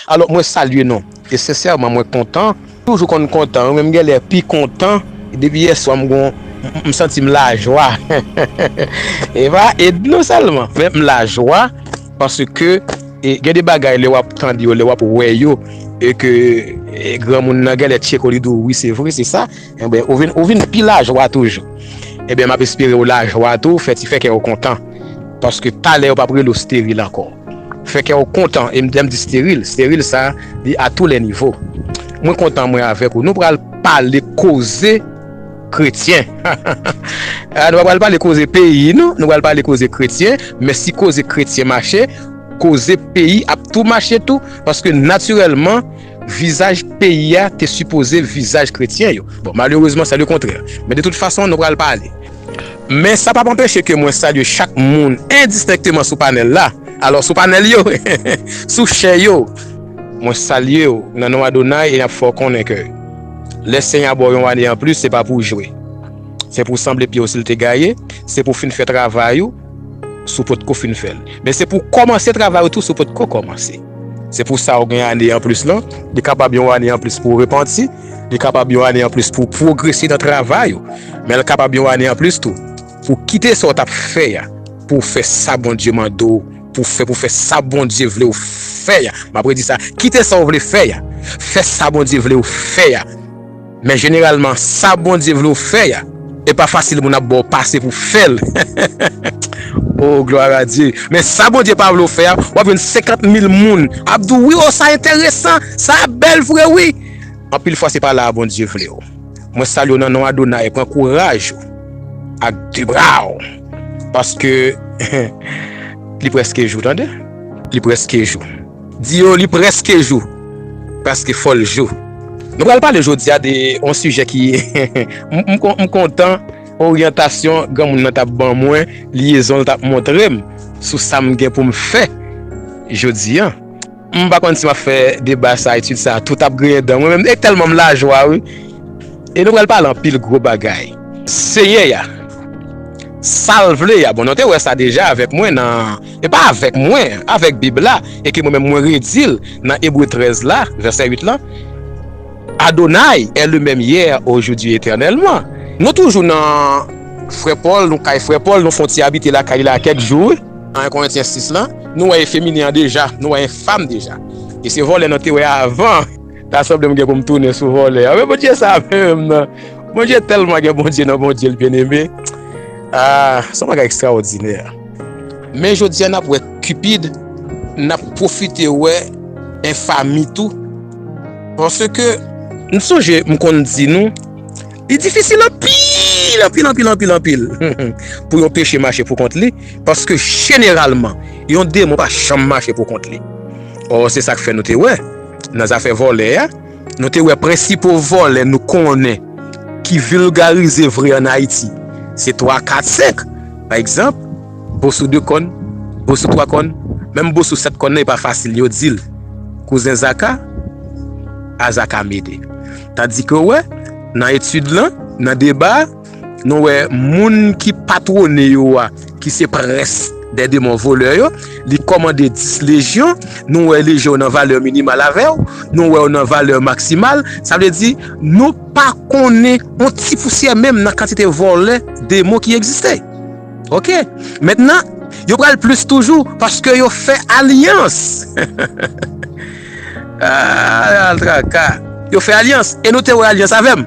Alò mwen salye nou e sensèman mwen kontan, toujou konn kontan wi men m genlè pi kontan depi yèswa m gon m santi m lajwa e pa Ednou sèlman men m lajwa paske gen de bagay lè wap tande yo lè wap wè yo e ke granmoun nan genlè tcheko li di w wi se vre se sa. Enben, ou vin, ou vin pi lajwa toujou. Enben, m ap espere ou lajwa tou, fè ti fè kè ou kontan. Paske talè yo p ap rele ou steril ankò. Fè kè ou kontan, e m, lè m di steril, steril sa a, li a tou lè nivo. Mwen kontan mwen avèk ou. Nou pral pale koze kretyen. Ha, ha, ha! Nou pa pral pale koze peyi nou, nou pral pale koze kretyen. Men si koze kretyen mache, koze peyi ap tou mache tou. Paske natirèlman. Vizaj peyi a te sipoze vizaj kretyen yo. Bon, malerezman se le kontrè. Men de tout fason, nou pral pale. Men sa p ap anpeche ke mwen salye chak moun endistenkteman sou panèl la. Alò, sou panèl yo, sou chè yo, mwen salye w nan non Adonay e n ap fè w konnen ke lè Senyè a ba w yon ane anplis, se pa pou w jwe. Se pou w sanble pye w si l te gaye, se pou w fin fè travay ou si w potko fin fè l. Men se pou w kòmanse travay ou tou si w potko kòmanse. Se pou sa ou gen ane anplis lan. Li kapab yon ane anplis pou ou repanti. Li kapab yon ane anplis pou ou pwogrese nan travay ou. Men li kapab yon ane anplis tou pou ou kite sa ou t ap fè a pou ou fè sa Bondye mande ou pou ou fè, pou ou fè sa Bondye vle ou fè a. M ap redi sa, kite sa ou vle fè a, fè sa Bondye vle ou fè a. Men jeneralman sa Bondye vle w fè a e pa fasil moun ap ba w pase pou fè l oo glwa a Dye men sa Bondye pa vle w fè a wap jwenn 50 mil moun ap di w wi oo sa enteresan sa bèl vre wi anpil fwa se pa la a Bondye vle w mwen salye w nan non Adonay pran kouraj ou ak 2 bra w paske li preske jou tande li preske jou. Di yo li preske jou, paske fol jou. Nou pral pale jodia de yon sijè ki m kontan oryantasyon granmoun nan tap ban mwen, lyezon l tap montre m sou sa m gen pou m fè jodi an. M pa konn si map fè deba sa, etid sa tout ap griyen dan mwen menm e tèlman m lajwa wi. E nou pral pale anpil gwo bagay. Senyè a, sa l vle a bon nou te wè sa deja avèk mwen nan. E pa avèk mwen, avèk Bib la, e ke mwen menm mwen redi l nan Ebre 13 la, vèsè 8 lan, Adonai est le même hier, aujourd'hui, éternellement. Nou toujou nan frè Pòl, nou kay frè Pòl, nou fon ti abite lakay li la kèk jou wi. Nan 1 Korentyen 6 lan, nou wè e feminen an deja, nou wè e fam deja. E se vòlè nou te wè avan. Ta sanble m gen pou m tounen sou vòlè a. Men Bondye sa menm nan! Bondye tèlman gen Bondye nan Bondye l byeneme. Ah, s on bagay ekstraòdinè! Men jodi a nap wè Cupid, nap pwofite wè enfami tou. Panse ke, m sonje m konn di nou, li difisil anpil, anpil, anpil, anpil, anpil pou yon peche mache pou kont li, paske jeneralman, yon demon pa janm mache pou kont li. Ò se sak fè nou te wè nan zafè vòlè a. Nou te wè prensipo vòlè nou konnen ki vilgarize vre an Ayiti, se twa, kat, senk. Pa egzanp, boso de kòn, boso twa kòn, menm boso sèt kòn nan e pa fasil yo di l kouzen zaka, a zaka mede. Tandike wè, nan etid lan, nan deba a. Nou wè moun ki patwone yo a, ki se prens dè demon volè yo, li kòmande 10 lejyon, nou wè lejyon yo nan valè minimal avè w, nou wè yo nan valè maksimal, sa vle di, nou pa konnen yon ti pousyè menm nan kantite volè demon ki egziste. Ok, mentnan, yo pral plis toujou, paske yo fè alyans. Ahh, al traka! Yo fè alyans, e nou te wè alyans avè m.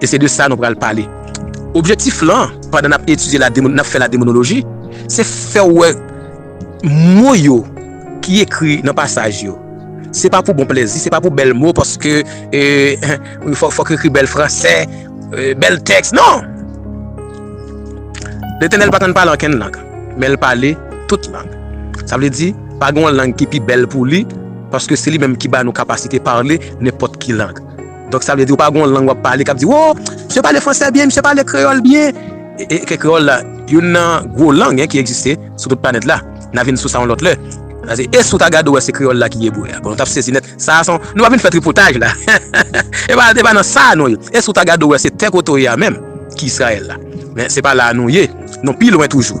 E se de sa nou pral pale. Objektif lan, pandan n ap etidye la, n ap fè la demonoloji, se fè w wè mo yo ki ekri nan pasaj yo. Se pa pou bon plezi, se pa pou bèl mo, paske fòk yo ekri bèl franse, bèl tèks, non! Letènèl pa konn pale ankenn lang, men l pale tout lang. Sa vle di, pa gen yon lang ki pi bèl pou li, paske se li menm ki ba nou kapasite pale nenpòt ki lang. Donk sa vle di ou pa gen yon lang wap pale kap di woo misye pale fransè byen, misye pale kreyòl byen. E ke kreyòl la youn nan gwo lang hein ki egziste sou tout planèt la. N a vin sou sa yon lòt lè. Pase e si w ta gade ou wè se kreyòl la ki ye bouè a. Bon nou t ap sezi nèt. Sa a s on, nou pa vin fè tripotaj la. E pa e pa nan sa a nou ye. E si w ta gade ou wè se tè kote w ye a menm ki Israël la. Men se pa la a nou ye. Nou pi lwen toujou.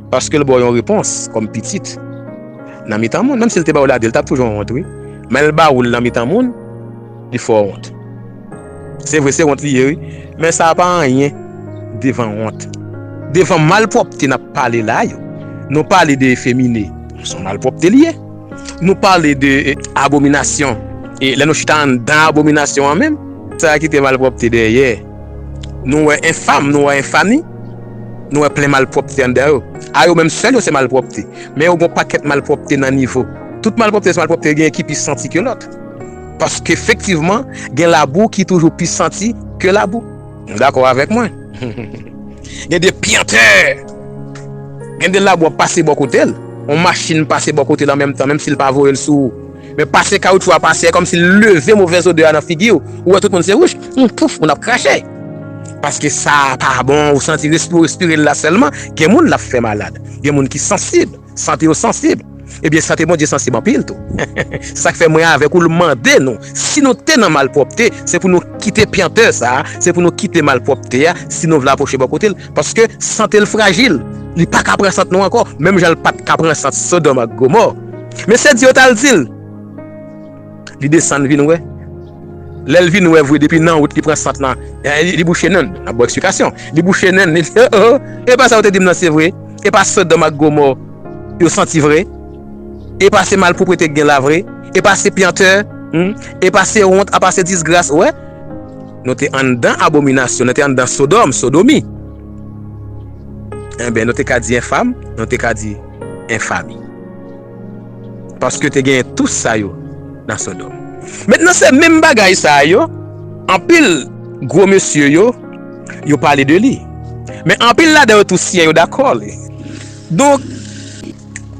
Paske l ba w yon repons kòm pitit nan mitan moun. Menm si l te ba w ladi, l t ap toujou wont wi. Men l ba ou l nan mitan moun, li fè w wont. Se vre, se wont li ye wi. Men sa pa anyen devan wont. Devan malpwòpte n ap pale la yo. Nou pale de efemine, se yon malpwòpte li ye. Nou pale de abominasyon. E lè nou chita anndan abominasyon an menm, sa kite malpwòpte dèyè. Nou wè enfam, nou wè enfami, nou wè plen malpwòpte anndan yo. A yo menm sèl yo se malpwòpte. Men yo gen yon pakèt malpwòpte nan nivo. Tout malpwòpte se malpwòpte, gen ki pi santi ke lòt. Paske efektivman, gen labou ki toujou pi santi ke labou. Ou dakò avèk mwen? Gen de pyentè! Gen de labou ap pase bò kote l, yon machin pase bò kote l anmenmtan, menm si l pa voye l sou ou. Men pase kawoutchou a pase, kòmsi l leve movèz odè a nan figi w, ou wè tout moun se wouch, humm pouf, moun ap krache. Paske sa a pa bon, ou santi respi w respire l la sèlman, gen moun l ap fè malad. Gen moun ki sansib, sante yo sansib. Ebyen sante Bondye sansib anpil tou. Sa k fè mwen avèk ou l mande nou, si nou te nan malpwòpte, se pou nou kite pyentè sa a, se pou nou kite malpwòpte a, si nou vle apwoche bò kote l. Paske sante l frajil, li pa ka pran sant nou ankò, menm jan l pa t ka pran sant Sodòm ak Gomò. Mesye di yo tal di l. Li desann vin wè. Lè l vin wè vre depi nan wout li pran sant lan. Li bouche nen l. Nap baw eksplikasyon. Li bouche nen l li di oh oh oh epa sa ou te dim nan se vre. Epa sodòm ak gomò yo santi vre. Epa se malpwoprete k gen la vre. Epa se pyantè humm. Epa se wont apa se disgras wè. Nou te anndan abominasyon nou te anndan sodòm sodomi. Enben nou te ka di enfam. Nou te ka di. en fami. Paske te genyen tou sa yo nan Sodòm. Mentnan se menm bagay sa yo, anpil gwo mesye yo, yo pale de li. Men anpil ladan yo tou siyen yo dakò li. Donk,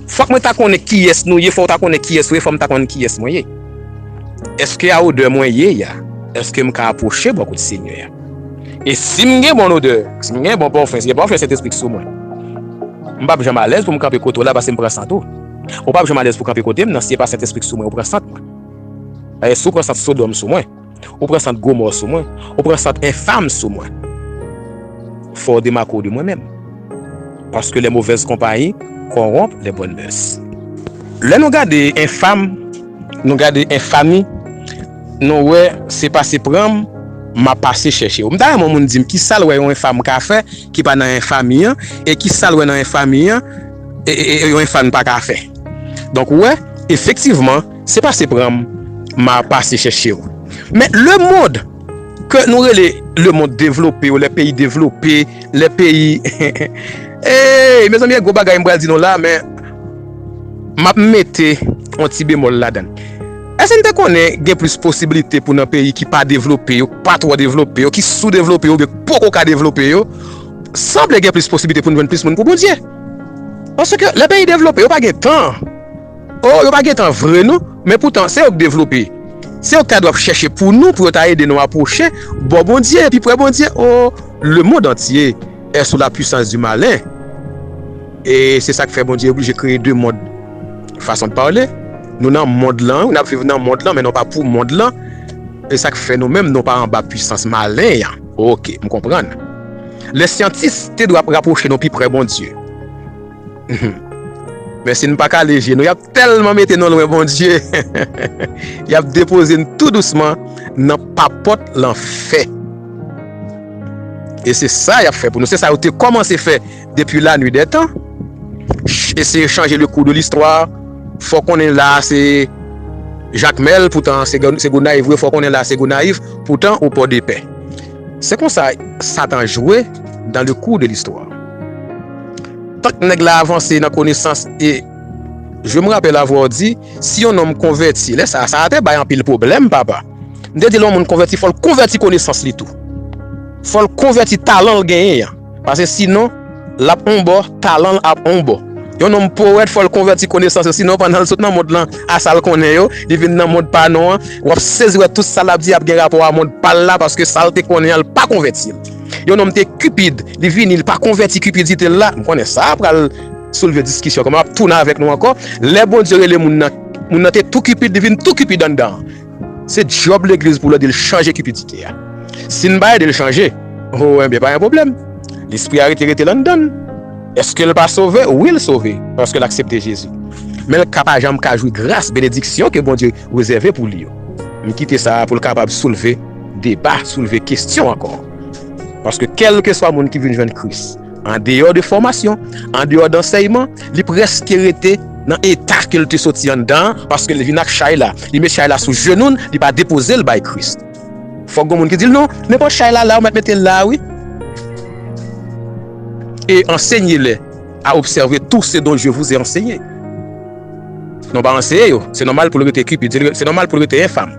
fòk mwen ta konnen kiyès nou ye, fò ou ta konnen kiyès ou ye, fò m ta konnen kiyès mwen ye. Eske a odè mwen ye a, eske m ka apwoche bò kot Senyè a? E si m gen bon odè, si m gen bon pòfen, si gen pòfen Sentespri ki sou mwen? M pap janm alèz pou m kanpe kote w la pase m pran sant ou. Ou pap janm alèz pou w kanpe kote m nan si e pa Sentespri k sou mwen ou pran sant mwen. Dayè si w pran sant Sodòm sou mwen, ou pran sant Gomò sou mwen, ou pran sant enfam sou mwen. Fò w demake w de mwen menm. Paske lè movèz konpayi kòwonp lè bòn mès. Lè nou gade enfam, nou gade enfami. Nou wè se pase pran m, m a pase chèche w. M ta renmen yon moun di m ki sa l wè yon enfa m ka fè ki pa nan enfa mi an, e ki sa l wè nan enfa mi an yon enfa n pa ka fè. Donk ou wè, efektivman, se pase pran m, m a pase chèche w. Men lemond ke nou rele lemond devlope ou lè peyi devlope, lè peyi, eey mezanmi gen gwo bagay m pral di nou la men m ap mete yon ti bemòl ladan l. Èske n te konnen gen plis posiblite pou nan peyi ki pa devlope yo, pa twò devlope yo, ki soudevlope yo oubyen ki poko ka devlope yo, sanble gen plis posiblite pou n jwenn plis moun pou Bondye? Paske lè peyi devlope yo pa gen tan. O, yo pa gen tan vre non, men poutan se yo k devlope. Se yo ki ta dwe ap chèche pou nou, pou yo ta ede nou apwoche bò Bondye, pi pre Bondye. O, lemond antye è sou lapwisans di malen. E se sa k fè Bondye oblije kreye de mond. Fason de parler, nou nan mond lan wi, nap viv nan mond lan men nou pa pou mond lan, e sak fè nou menm nou pa anba pwisans malen yan, ok m konprann. Lè syantis te dwe ap rapwoche nou pi prè Bondye humm men si n pa kale je nou yap tèlman mete nou lwen Bondye heheheh yap depoze n tou dousman nan papòt lanfè e se sa yap fè pou nou se sa yo te kòmanse fè Depi la nuit dè tan, eseye chanje le kou de listwa, fò konnen la a se Jakmèl, poutan se Gonayiv, fò konnen la a se Gonayiv, poutan ou Pòdepè. Se konsa Satan jwe dan le kou de listwa. Tank nèg la avanse nan konesans e Je me rappelle avoir dit, si yon nonm konvèti, lè sa a, sa a te bay anpil pwoblèm, papa. M te di lè yon moun konvèti, fò l konvèti konesans li tou. Fò l konvèti talan l genyen an. Pase sinon, l ap on bò, talan l ap on bò. Yon nonm powèt fò l konvèti konesans yo, sinon pandan l sot nan mond lan a sa l konnen yo, li vin nan mond pa nou an, w ap sezi wè tout sa l ap di ap gen rapò a mond pa l la paske sa l te konnen an l pa konvèti l. Yon nonm te Cupid, li vini, li pa konvèti cupidite l la. M konnen sa a pral soulve diskisyon ankò men m ap tounen avèk nou ankò, lè Bondye rele moun nan, moun nan te tou Cupid, li vin tou Cupid anndan an. Se djob legliz pou l ede l chanje kipidite a. Si n pa ede l chanje, o, enben pa gen pwoblèm. Lespri a rete rete landan l. Èske l pa sove? Wi l sove, paske l aksepte Jezi. Men l ka pa janm ka jwi gras, benediksyon ke Bondye rezève pou li yo. M kite sa a pou l kapab soulve deba, soulve kestyon ankò. Paske kèlkeswa moun ki vin jwenn Kris. Andeyò de fòmasyon, andeyò dansèyman, li prèske rete nan eta ke l te soti anndan an, paske l vin ak chay la, li met chay la sou jenou n, li pa depoze l bay Kris. Fòk gon moun ki di l, Non, men pòt chay la la, ou mèt mete l la a wi. E ansenye lè a obsève tou se don je vouze ansenye. Non pa anseye yo, se nòmal pou l rete kipid, se nòmal pou l rete enfam,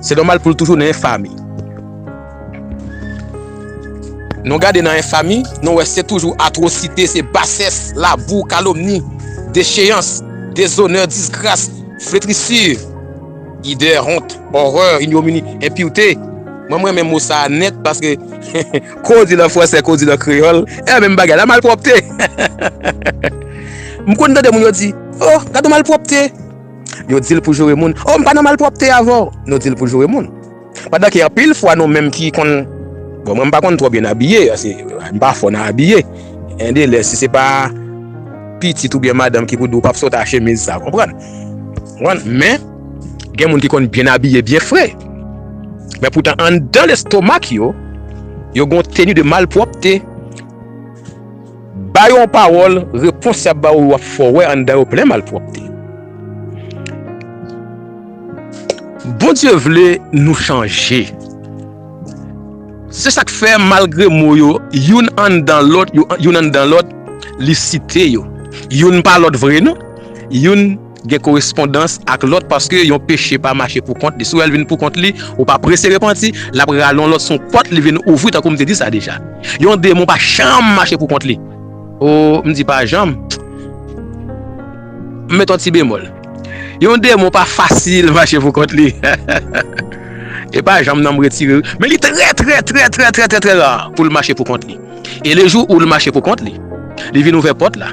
se nòmal pou l toujou nan enfami. Nou gade nan enfami, nou wè se toujou atwosite, se basès, labou, kalomni, decheyans, dezonè, disgras, fletrisur, idè, hont, orè, inyomini, enpurte, mwen m renmen mo sa a nèt paske kou w di l an fransè, kou w di l an kreyòl, e menm bagay la, malpwòpte! M konn tande moun yo di, O! Gad yon malpwòpte! Yo di l pou joure moun, O! M pa nan malpwòpte avè w! Nou di l pou joure moun. Pandan ke anpil fwa nou menm ki konn, bon mwen m pa konn twò byen abiye, ase m pa fò nan abiye, en de lè si se pa pitit oubyen madanm ki pou di w pa p sot a chemiz sa, konprann? Konprann? Men, gen moun ki konn byen abiye, byen fre, men poutan anndan lestomak yo, yo gen yon teni de malpwòpte. Ba yo yon pawòl, repons y ap ba ou yo ap fè w wè anndan yo plen malpwòpte. Bondye vle nou chanje. Se sa k fè, malgre mo yo youn anndan lòt, youn anndan lòt, li site yo. Youn pa lòt vre non. Youn. gen korespondans ak lòt paske yon peche pa mache pou kont li si w wè l vin pou kont li ou pa prese repanti l ap rale yon lòt s on pòt li vin ouvri tankou m te di sa deja yon demon pa janm mache pou kont li oo m di pa janm m met yon ti bemòl yon demon pa fasil mache pou kont li hehehehe e pa janm nan m retire l men li trè trè trè trè trè trè trè ra pou l mache pou kont li e le jou ou l mache pou kont li li vin ouvè pòt la.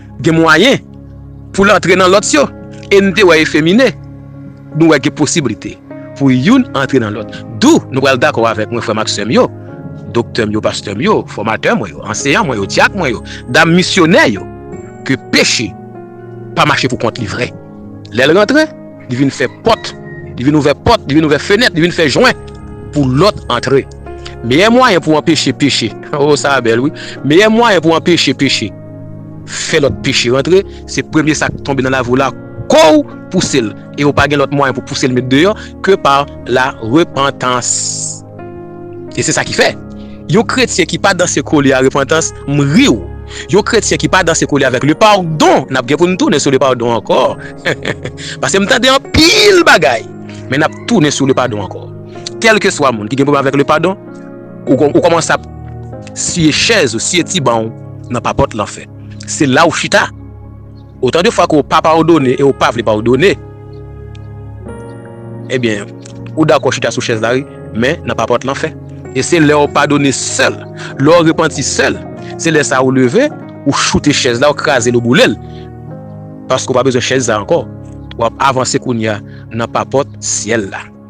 Gen mwayen pou l antre nan lòt yo e n te wè efemine. Nou wè gen posiblite pou youn antre nan lòt. Dou, nou pral dakò avèk mwen, frè m ak sè m yo, doktè m yo, pastè m yo, fòmatè mwen yo, anseyan mwen yo, dyak mwen yo, dam misyonè yo, ke peche pa mache pou kont li vre lè l rantre. li vin fè pòt, li vin ouvè pòt, li vin ouvè fenèt, li vin fè jwen pou lòt antre. Meyè mwayen pou anpeche peche, oh sa a bèl wi, meyè mwayen pou anpeche peche fè lòt peche rantre, se premye sa k tonbe nan lavi w la kou w pouse l e ou pa gen lòt mwayen pou pouse l met deyò ke pa la repantans. E se sa ki fè, yon kretyen ki pa danse kole a repantans, m ri w. Yon kretyen ki pa danse kole avèk le padon, n ap gen pou n tounen sou le padon ankò. Pase m tande anpil bagay, men n ap tounen sou le padon ankò. Kèlkeswa moun ki gen pwoblèm avèk le padon, ou kòmanse ap siye chèz ou, siye ti ban w nan papòt lanfè. Se la ou chita. Otan de fwa ke ou pa padone e ou pa vle padone, ebyen, ou dakò chita sou chèz la wi, men nan pa pòt lanfè. E se lè ou padone sèl, lè ou repanti sèl, se lè sa ou leve, ou choute chèz la, ou kraze l, ou boule l. Paske ou pa bezwen chèz sa ankò. Ou ap avanse kounye a nan pa pòt syèl la.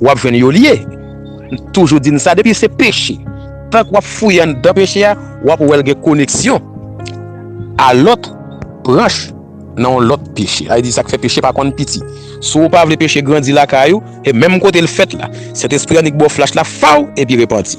Wap jwenn yo liye. M toujou di n sa depi se peche tank wap fouye anndan peche a wap wè l gen koneksyon a lòt branch nan yon lòt peche. Sa vle di sa k fè peche pa konn piti. Si w pa vle peche grandi lakay ou e menm kote l fèt la Sentespri annik ba w flach la faw epi repanti.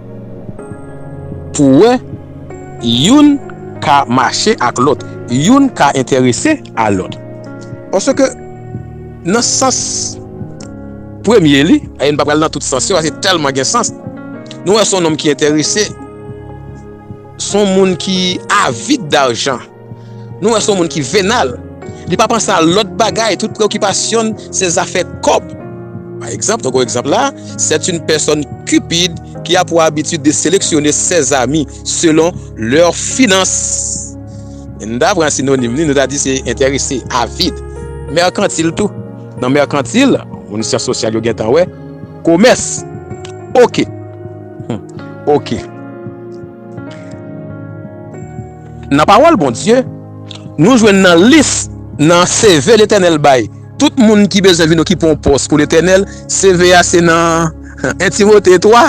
Pou wè, youn ka mache ak lòt, youn ka enterese a lòt. Paske nan sans premye li, e n pa pral nan tout sans yo paske tèlman gen sans, nou wè s on nonm ki enterese, s on moun ki avid darjan. Nou wè son moun ki venal, li pa panse a lòt bagay, tout preokipasyon l se zafè kòb. Pa egzanp, nan gwo egzanp la, sèt yn pèsòn Cupid ki a pou abitid de seleksyone sèzami selon lè finans. Si n ta pran sinonim li, nou ta di se entèrese, avid. Mèkantil tou. Nan mèkantil, moun syans sosyal yo gen tan wè, komès. Oke. Oke. Nan pawòl Bondye, nou jwenn nan lis nan CV Letènèl bay tout moun ki bezwen vin okipe yon pòs pou Letènèl, CV a se nan 1 Timote 3.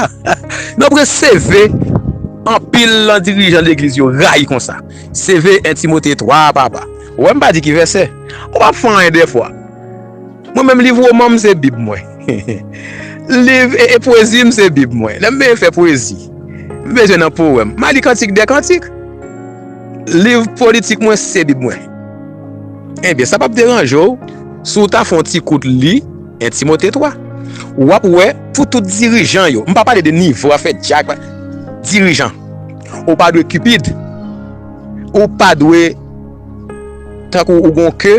Nonpre CV anpil nan dirijan legliz yo rayi konsa. CV 1 Timote 3 a papa. Wè m pa di ki vèsè. Ou pa fè anyen 2 fwa. Mwen menm liv woman m se bib mwen. Liv e pwezi m se bib mwen. Lè m vle fè pwezi, m bezwen nan powèm. M a li kantik dè kantik. Liv politik mwen se bib mwen. Enben, sa pap deranje w si w ta fè yon ti kout li 1 Timote 3. W ap wè pou tout dirijan yo, m pa pale de nivo afè dyak, dirijan, ou pa dwe cupid, ou pa dwe tankou ou gen yon ke.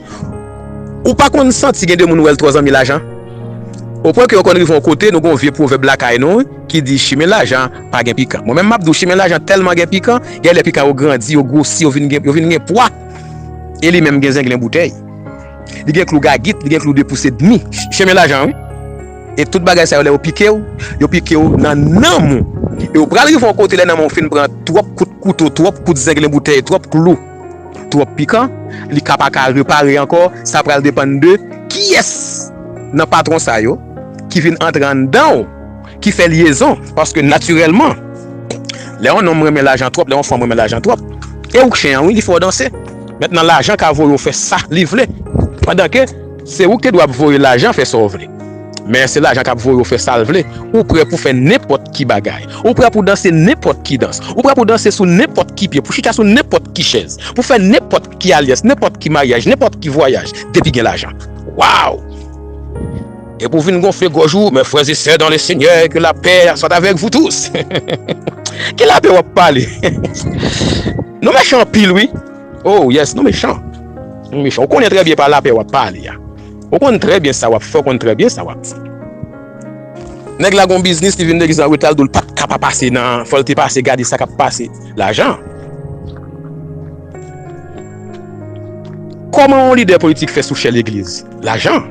Ou pa konn santi gen de moun ou wè l twò zanmi lajan? O pwen ke yo konn rive yon kote nou gen yon vye pwovèb lakay nou wi ki di chimen lajan pa gen pikan. Mwen menm m ap di w chimen lajan tèlman gen pikan, gen lè pikan yo grandi, yo gwosi, yo vin gen, yo vin gen pwa. E li menm gen zenglen boutèy. Li gen klou gagit, li gen klou de pous edmi. Chemen lajan wi. E tout bagay sa yo lè yo pike w, yo pike w nan nanm ou. E ou pral rive yon kote lè nanm ou fin pran twòp kout kouto, twòp kout zenglen boutèy, twòp klou. twòp pikan, li ka pa ka repare ankò, sa pral depann de kiyès nan patwon sa yo ki vin antre anndan w, ki fè lyezon. Paske natirèlman, lè yon nonm renmen lajan twòp, lè yon fanm renmen lajan twòp, e ou k chen an wi, li fè w danse. Mentnan lajan ka voye w fè sa li vle, pandan ke. Se ou ki te dwe ap voye lajan fè sa w vle. Men se lajan k ap voye w fè sa l vle. Ou pre pou fè nenpòt ki bagay. Ou pre pou danse nenpòt ki dans. Ou pre pou danse sou nenpòt ki pye, pou chita sou nenpòt ki chèz, pou fè nenpòt ki alyans, nenpòt ki maryaj, nenpòt ki vwayaj, depi gen lajan. Waw! Epi w vin gonfle gòj ou, Mes frères et sœurs dans le Seigneur, que la paix soit avec vous tous! Ki lapè w ap pale? Nou mechan anpil wi! Oh yes nou mechan Nou mechan ou konnen trè byen pa lapè wap pale a Ou konnen trè byen sa wap fè ou konnen trè byen sa wap di Nèg la gon biznis li vin legliz an reta l di w l pat ka pa pase nan fò l te pase gade sa kap pase lajan Kòman yon lidè politik fè sou chè legliz lajan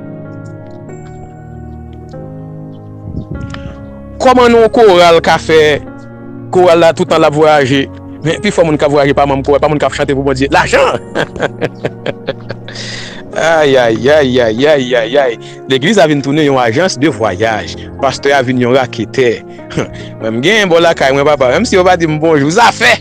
Kòman yon koral ka fè Koral la toutan lap vwayaje men pi fò moun kap vwayaje pa manm koral pa moun kap chante pou Bondye lajan ayayayayayayayayay legliz la vin tounen yon ajans de vwayaj pastè a vin yon raketè mwen m gen bò lakay mwen papa menm si yo pa dim bonjou zafè.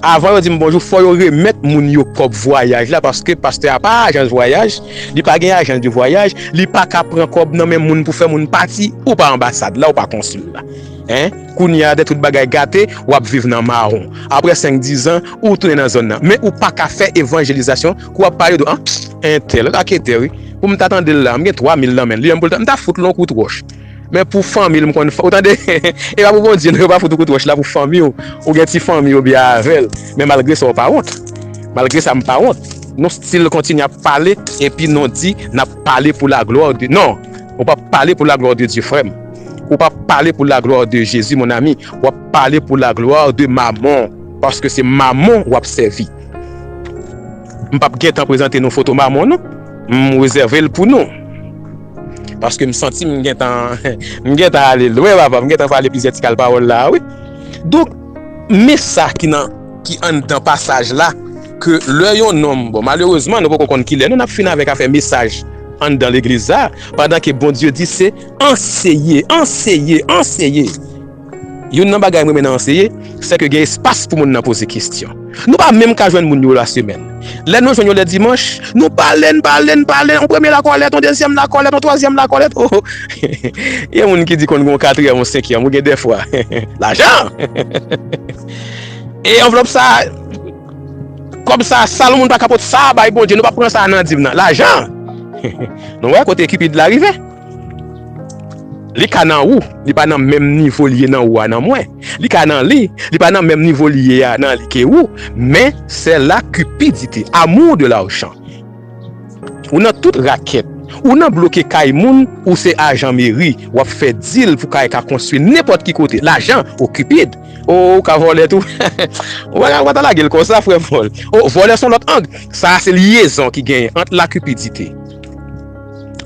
Avan yo dim bonjou fò yo remèt moun yo kòb vwayaj la paske pastè a pa ajans vwayaj, li pa gen ajans de vwayaj, li pa ka pran kòb nan men moun pou fè moun pati, ou pa anbasad la ou pa konsil la hein, kounye a dè tout bagay gate wap viv nan mawon aprè 5 dizan ou tounen nan zòn nan men ou pa ka fè evanjelizasyon kou wap pale de anh entèl raketè wi pou m ta tandel la m gen 3 mil nan men li an pou l ta m ta fout l on kout wòch. Men pou fanmil m konn fè. Ou tande? E pa pou Bondye non, yo pa fout ou kout wòch la pou fanmi w. Ou gen ti fanmi ou byen avèl. Men malgre sa ou pa wont. Malgre sa m pa wont. Nou stil kontinye ap pale epi nou di nap pale pou la glwa de non. Ou pap pale pou la glwa de Dye frè m. Ou pap pale pou la glwa de Jezi mon ami. Wap pale pou la glwa de mamon. Paske se mamon wap sèvi. M pap gentan prezante nou foto Mamon non, m rezève l pou nou. Paske m santi m gentan m gentan ale lwen papa, m gentan pale plizyè ti kal pawòl la a wi. Donk, men sa ki nan ki anndan pasaj la ke lè yon nonm, bon malerezman nou poko konn kilè nou nap fin avèk afè mesaj anndan legliz sa a, pandan ke Bondye di se anseye, anseye, anseye. Youn nan bagay m renmen nan anseye, se ke gen espas pou moun nan poze kesyon. Nou pa menm ka jwenn moun yo lasemèn. Lè nou jwenn yo lè dimanch, nou pale, n pale, n pale, yon premye lakòlèt, yon dezyèm lakòlèt, yon twazyèm lakòlèt, o o. Gen moun ki di konn gen yon katriyèm, yon senkyèm, ou gen dèfwa. Lajan! E anvlòp sa a, kòb sa a, sal moun pa ka pot sa a bay Bondye, nou pa pran sa a nan dim nan. Lajan! Nou wè kote Cupid la rive? Li ka nan ou, li pa nan menm nivo li ye nan ou a nan mwen. Li ka nan li, li pa nan menm nivo li ye a nan li ke ou, men sè la cupidite, amour de l'argent. Ou nan tout rakèt, ou nan bloke kay moun, ou se ajan meri, wap fè dil pou kay ka konstwi nenpòt ki kote, lajan, oh cupid, oh ou ka vòlè tou, ou pa ta lagel konsa frè vòl, oh vòlè son lòt ang, sa a se lyezon ki genyen ant la cupidite.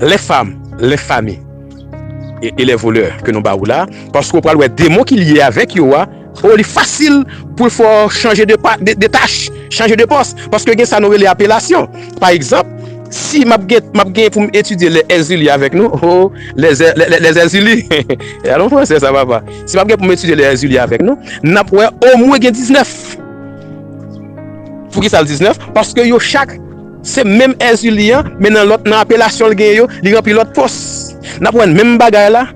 Les femmes, les familles et les voleurs ke nou ba ou la, paske ou pral wè demon ki lye avèk yo a, oh li fasil poul fè w chanje de tach, chanje de pòs, paske gen sa nou rele apelasyon. Pa egzanp, si m ap gen pou m etidye les Erzulie avèk nou, oh les Erzulie, gade yon fransè sa papa, si m ap gen pou m etidye les Erzulie avèk nou, n ap wè omwen gen 19. Poukisa l 19? Paske yo chak. Se menm Èzili an, men nan lòt nan apelasyon l genyen yo, li ranpli lòt pòs. N ap wè menm bagay la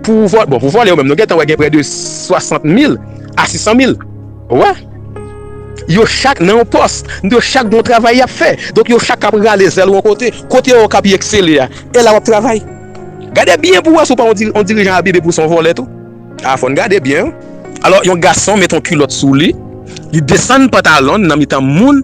pou vòlè. Bon, pou vòlè yo menm, nou gentan wè gen prè de 60 mil a 600 mil. Ou wè? Yo chak nan yon pòs. Yo chak gen yon travay y ap fè. Donk, yo chak ap rale zèl yon kote. Kote yo ka pi eksele a, e la w ap travay. Gade byen pou w wè si w pa yon dirijan abib epi w se yon vòlè tou. A, fò n gade byen wi. Alò, yon gason met yon kilòt sou li, li desann pantalon l nan mitan moun.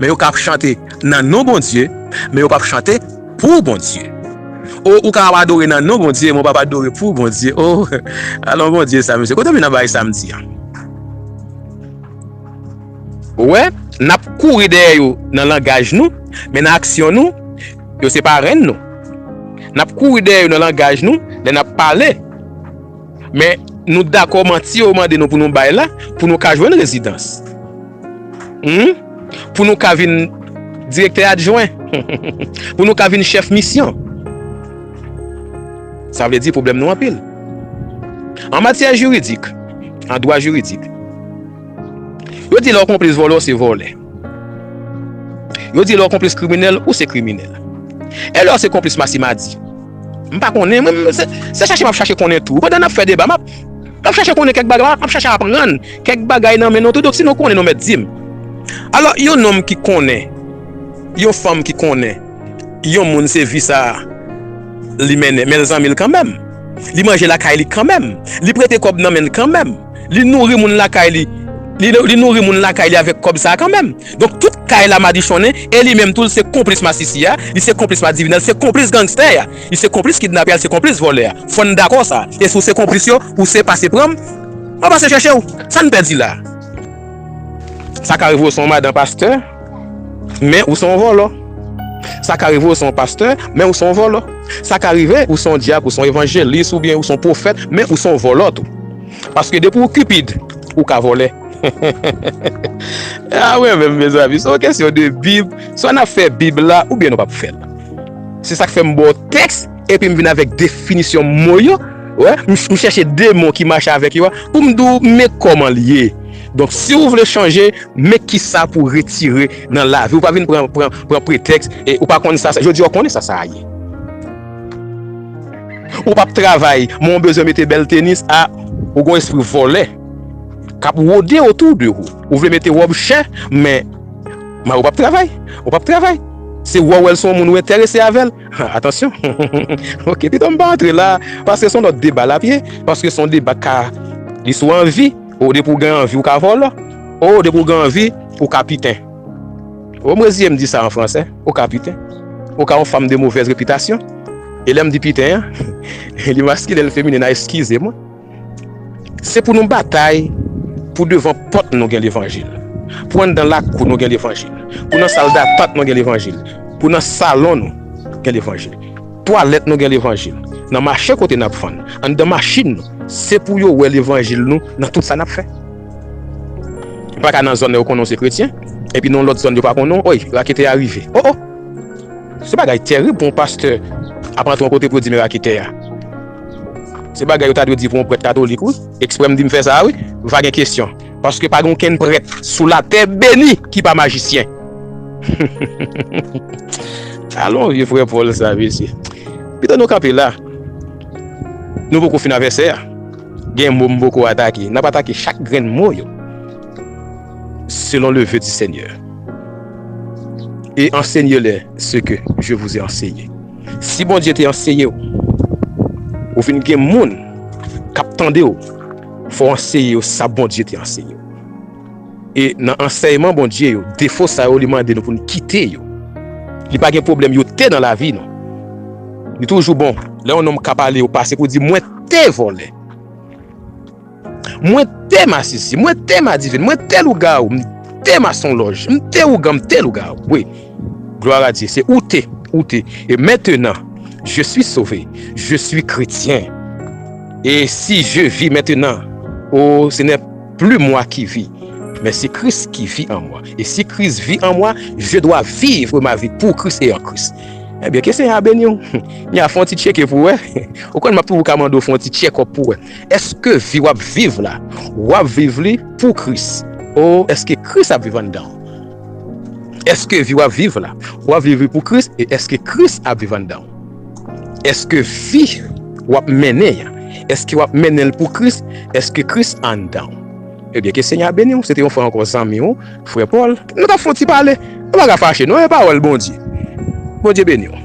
Men yo kap chante nan non Bondye, men yo pap chante pou Bondye. O ou ka ap adore nan non Bondye, men w pap adore pou Bondye. O, alon Bondye sa mesye, kote w vin ap bay samdi an? Ou wè, nap kouri dèyè yo nan langaj nou, men nan aksyon nou, yo se parenn nou. Nap kouri dèyè yo nan langaj nou, lè nap pale. Men nou dakò manti yo mande nou pou nou bay la pou nou ka jwenn rezidans. Hum? Pou nou ka vin direktè adjwen. Pou nou ka vin chèf misyon. Sa vle di pwoblèm nou anpil. An matyè jiridik, an dwa jiridik, yo di lè w konplis vòlè w se vòlè. Yo di lè w konplis kriminèl, ou se kriminèl. E lè w se konplis masimadi? M pa konnen, mwen menm se chache m ap chache konnen tou. Pandan n ap fè deba, m ap chache konnen kèk bagay, m ap chache aprann kèk bagay nan men nou tou. Donk si nou konnen nou mèt di m. Alò yon nonm ki konnen, yon fanm ki konnen. Yon moun se vi sa a li mennen, men l zanmi l kanmenm. Li manje lakay li kanmenm. Li prete kòb nan men l kanmenm. Li nouri moun lakay li li nouri moun lakay li avèk kòb sa a kanmenm. Donk tout kay la madichonnen e li menm tou l se konplis masisi a, li se konplis madivinè, l se konplis gangstè a, li se konplis kidnapè a, li se konplis vòlè a. Fò n dakò sa. E si w se konplis yo, ou se pase pran m, mwen pase chèche w. Sa n pèdi la a? Sa ka rive w se yon madan pastè. men ou se yon vòlò. Sa ka rive ou se yon pastè, men ou se yon vòlò. Sa ka rive ou se yon dyak, ou se yon evanjelis, oubyen ou se yon pwofèt, men ou se yon vòlò tou. Paske depi ou Cupid, ou ka vòlè. A mwen menm mezanmi, se yon kesyon de bib, swa n ap fè bib la oubyen nou p ap fè l. Se sa k fè m ba w tèks epi m vin avèk definisyon mo yo, wè, m chèche de mo ki mache avèk yo a pou m di w men kòman l ye. Donk si ou vle chanje men kisa pou retire nan lavi ou pa vin pran pran pretèks e ou pa konn sa jodi a ou konnen sa sa a ye ou pap travay men ou bezwen mete bèl tenis a ou gon espri vòlè kap wode otou de ou ou vle mete wòb chè men men ou pap travay ou pap travay se wè ou wèl son moun ou enterese avèl ha atansyon hum ok pitom pa antre la paske son lòt deba lap ye paske son deba ka li sou anvi. Oh depi w gen anvi w ka vòlò Oh depi w gen anvi ou ka piten Oh m reziye m di sa an fransè ou ka piten ou ka yon fanm de movèz repitasyon e lè m di piten an li maskilen li feminen a eskize mwen se pou nou batay pou devan pòt nou gen levanjil pou anndan lakou nou gen levanjil pou nan sal datant nou gen levanjil pou nan salon nou gen levanjil. Twalèt nou gen levanjil nan mache kote nap vann anndan machin nou se pou yo wè levanjil nou nan tout sa nap fè ou paka nan zòn yo konnen ou se kretyen epi nan yon lòt zòn yo pa konnen w oy raketè a rive o o se bagay tèrib pou yon pastè ap antre yon kote pou yo di men raketè a se bagay yo ta dwe di pou yon prèt katolik wi ekspre m di m fè sa wi va gen kesyon. Paske pa gen okenn prèt sou latè beni ki pa majisyen. Alon vye frè Paul sa mesye. Pito nou kanpe la. Nou poko fin a vèsè a. Gen mo m poko atake. Nap atake chak grenn mo yo. Selon le ve di senyè. E ansenye lè se ke je vouze anseye. Si Bondye te anseye ou. Ou vin gen moun kap tande ou. Fò w anseye yo sa Bondye te anseye yo. E nan ansèyman Bondye yo, defo sa yo li mande nou pou n kite yo. Li pa gen pwoblèm yo te nan lavi nou. Li toujou bon lè yon nonm kap ale yo pase pou di mwen te vòlè. Mwen te masisi, mwen te madivin, mwen te lougawou, m te masonlòj, m te ougan, m te lougawou. Gloire a Dieu se ou te ou te e mentenan je suis sove je suis kretyen e si je vi mentenan oo se nè pli mwa ki vi men se kris ki vi an mwa e si kris vi an mwa je dwa vivre ma vi pou kris e an kris ebyen ke senyè a beniw mya fon ti tcheke pou wè ou konn map toujou ka mande w fon ti tchekòp pou wè eske vi wap viv la wap viv li pou kris oo eske kris ap viv anndanw. Èske vi w ap viv la, w ap viv li pou Kris e èske Kris ap viv anndan w? Èske vi w ap mennen an, èske w ap mennen l pou Kris, èske Kris anndan w? Ebyen ke Senyè a beni w, se te yon fwa ankò zanmi w, frè Paul, nou t ap fè yon ti pale, nou pa ka fache non e pawòl Bondye. Bondye beni w.